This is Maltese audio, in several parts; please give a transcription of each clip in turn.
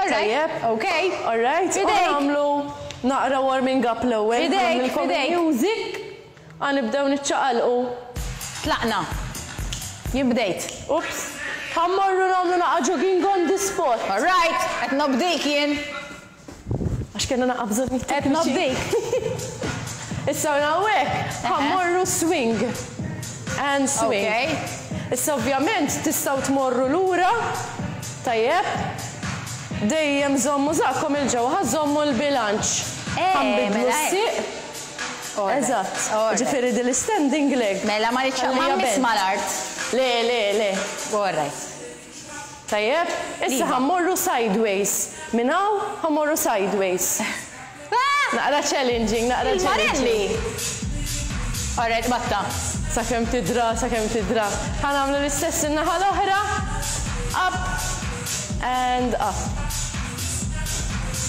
Tajjeb. Ok. All right. U nagħmlu naqra warming up l-ewwel. Idejk, idejk. Music. Għanibdew niċċaqalqu. Tlaqna. Jien bdejt. Ups. Ħammorru nagħmlu naqgħa jogging on the spot. All right. Qed nobdik jien. Għax kellna naqgħa bżonn it-tekniċi. Qed nobdik. Issa minn hawnhekk ħammorru swing. And swing. Ok. Issa ovvjament tistgħu tmorru lura. Tajjeb. Dejjem żommu żaqqkom 'il ġewwa ħa żommu l-bilanċ. Ħa nbiddlu s-sieq. Eżatt. Jiġifieri din l-istending leg. Mela ma rridx ħallija bend. Ma mmiss mal-art. Le, le, le. All right. Tajjeb. Issa ħa mmorru sideways. Minn hawn ħa mmorru sideways. Naqra challenging, naqra challenging. Il-Marelli! Alright, batta. Sakemm tidra, sakemm tidra. Ħa nagħmlu l-istess in-naħa l-oħra. Up and up.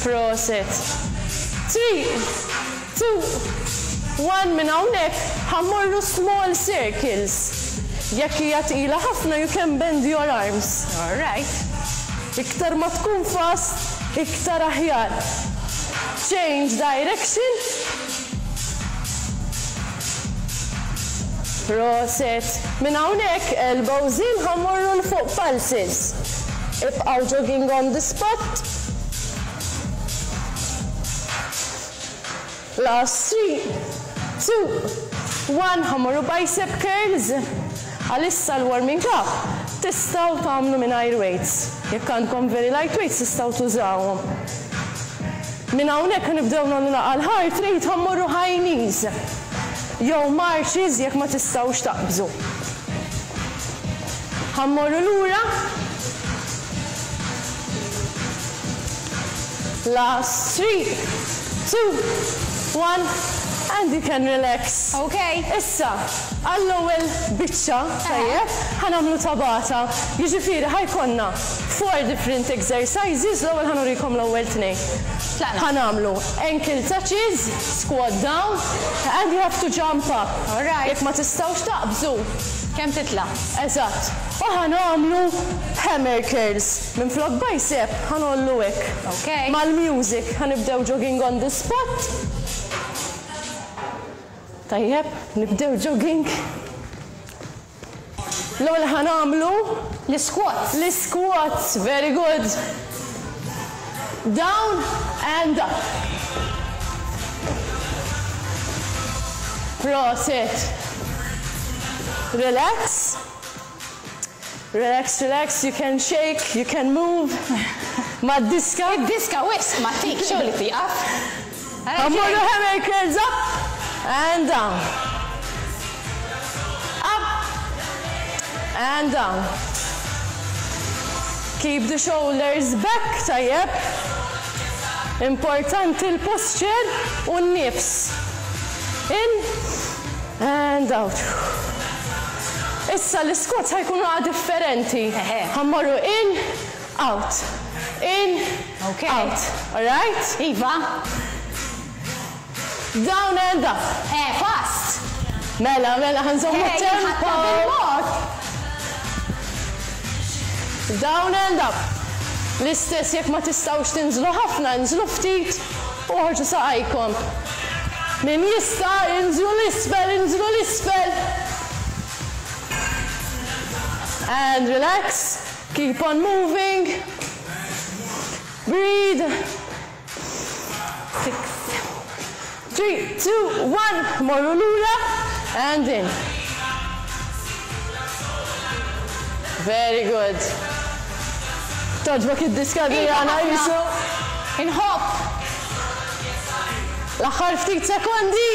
Proset. Three, two, one minn hawnhekk ħa mmorru small circles. Jekk hija tqila ħafna you can bend your arms. Alright. Iktar ma tkun fast, Iktar aħjar. Change direction. Proset. Minn hawnhekk, elbows in ħa mmorru 'l fuq pulses. Ibqgħu jogging on the spot. Last three, two, one ħa mmorru bicep curls. Għalissa l-warming up tistgħu tagħmlu mingħajr weights. Jekk għandkom very light weights tistgħu tużawhom. Minn hawnhekk ħa nibdew nagħmlu l-aqal heart rate ħa mmorru high knees jew marches jekk ma tistgħux taqbżu. Ħa mmorru lura. Last three, two, one and you can relax. Okay. Issa, għall-ewwel biċċa, tajjeb, ħa nagħmlu tabata. Jiġifieri ħa jkollna four different exercises, l-ewwel ħa nurikom l-ewwel tnejn. Tlaqna. Ħa nagħmlu ankle touches, squat down and you have to jump up. All right. Jekk ma tistgħux taqbżu. Kemm titla'. Eżatt. U ħa nagħmlu hammer curls. Minflok bicep ħa ngħollu hekk. Mal-music ħa nibdew jogging on the spot. Tajjeb, nibdew jogging. L-ewwel ħa nagħmlu. L-isquats. L-isquats, very good. Down and up. Prosit. Relax. Relax, relax, you can shake, you can move mad-diska. Id-diska wisq ma ttik xogħol li tieqaf. Ħa mmorru hammer curls up and down. Up and down. Keep the shoulders back, tajjeb. Importanti l-posture u n-nifs. In. And out. Issa l-isquats ħa jkunu qa differenti. Ħa mmorru in, out, in, out. Alright? Iva. Down and up. Eh, fast! Mela, mela, ħa nżommu t-tempo. Eh, jinħatta bil-mod. Down and up. L-istess jekk ma tistgħux tinżlu ħafna, inżlu ftit Oħorġu saqajkom. Min jista' inżlu 'l isfel, inżlu 'l isfel. And relax, keep on moving. Breathe. Six, three, two, one, morru lura and in. Very good. Togħġbok id-diska Adriana qisu. Inħobb. L-aħħar ftit sekondi.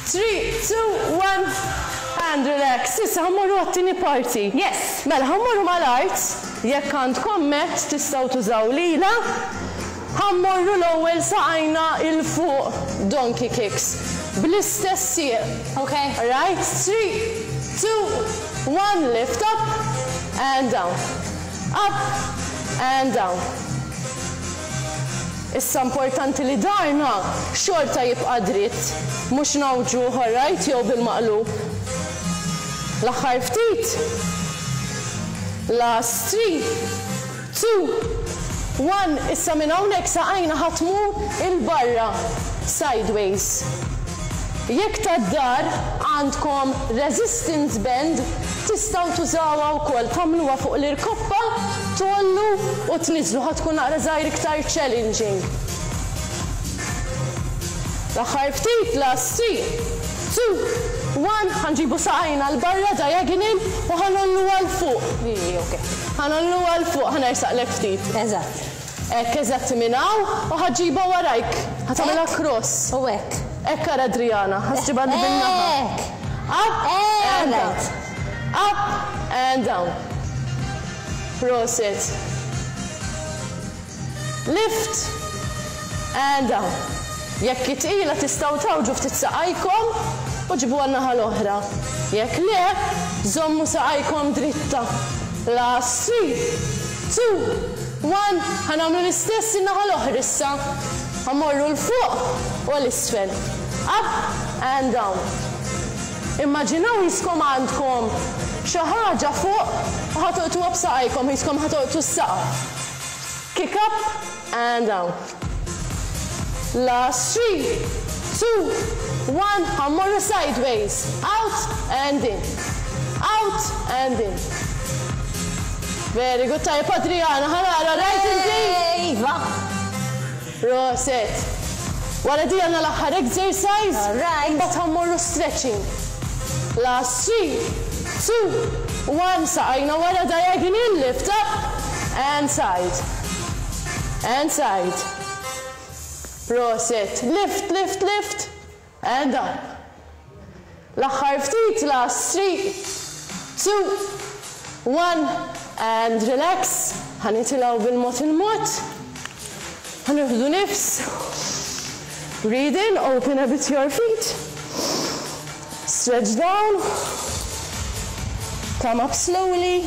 3, 2, 1 and relax. Issa ħa mmorru għat-tieni parti. Yes. Mela ħa mmorru mal-art. Jekk għandkom mat tistgħu tużaw lilha. Ħa mmorru l-ewwel saqajna 'il fuq, donkey kicks, bl-istess sieq, ok? Right, three, two, one, lift up and down, up and down. Issa importanti li daharna xorta jibqa' dritt, mhux ngħawġuh, alright, jew bil-maqlub. L-aħħar ftit. Last three. Two, one Issa minn hawnhekk saqajna ħa tmur 'il barra, sideways. Jekk tad-dar għandkom resistance band tistgħu tużawha wkoll tagħmluha fuq l-irkoppa tgħollu u tniżżlu ħa tkun naqra żgħir iktar challenging. L-aħħar ftit, last three. Two, one, Ħa nġibu saqajna 'l barra diagonal u ħa ngħolluha 'l fuq. Lili, ok. Ħa ngħolluha 'l fuq, ħa nersaqlek ftit. Eżatt. Hekk, eżatt minn hawn u ħa ġġibha warajk. Ħa tagħmilha cross. Hekk, u hekk. Hekk ara Adriana, ħa ġġibha din in-naħa. Hekk. Up and down. Up and down. Prosit. Lift! Qiegħda! Jekk hi tqila tistgħu tgħawġu ftit saqajkom u ġibuha n-naħa l-oħra. Jekk le, żommu saqajkom dritta. Last three, two, one, ħa nagħmlu l-istess in-naħa l-oħra issa. Ħa mmorru 'l fuq u għal isfel. Up and down. Immaġinaw hiskom għandkom xi ħaġa fuq u ħa tolqtuha b'saqajkom, hiskom ħa tolqtu s-saqaf. Kick up and down. Last three, two, one, ħa mmorru sideways. Out and in. Out and in. Very good, tajjeb Adriana, ħa nara, right inti? Iva! Proset! Wara di għandna l-aħħar exercise imbagħad ħa mmorru stretching. Last three, two, one saqajna wara diagonal lift up and side and side. Proset! Lift lift lift. Eh da. L-aħħar ftit last three, two, one and relax, ħa nitilgħu bil-mod il-mod, ħa nieħdu nifs, breathe in, open a bit your feet, stretch down, come up slowly,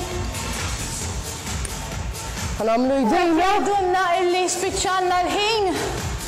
ħa nagħmlu jdejna. Jgħidulna illi spiċċalna l-ħin.